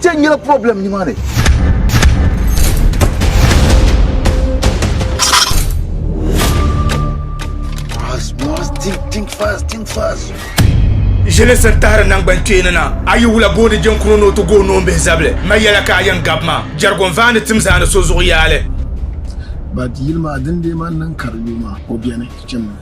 Kpɛ nyɛla problem nimaani. Mars, Mars, think, think fast, think fast. Ʒili sir tahiri nangban kpeeni na. A yi wula booni jɛnkuro ni o ti gooi noombihi zabili. Ma yɛla ka a yɛn gabi ma. Jɛrigon vaani tim zaa ni so zuɣu yaali. But yili maa din deei ma n niŋ ka di lu maa o beni chimmi.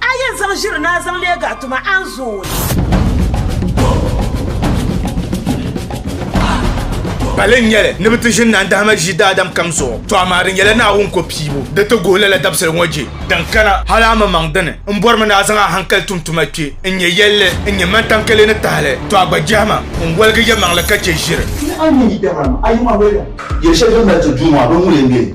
A yɛn zaŋ ʒiri ni a zaŋ leeg a tuma, a ni zooi. Pali n-nyɛli ni bɛ ti ʒini Naa Dahima ʒii daadam kam zuɣu, tɔ amaa di nyɛla Naawuni ko piibu. Di ti guhi lala dabisili ŋɔ je din kana. Hal a mi maŋ dini m-bɔrimi ni a zaŋ a hankali tum tuma kpe n-nyɛ yɛlli n-nyɛ mantankele ni tahili, tɔ a gba jɛhi ma n-waligi yɛlimaŋli ka che ʒiri. Ti a ni yi dahima a yuma noli la. Yɛli shɛli din mali ti Duuma bini ŋun yɛn be.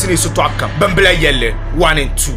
Ti ni yi sitɔɣu kam bimbila yɛlli one and two.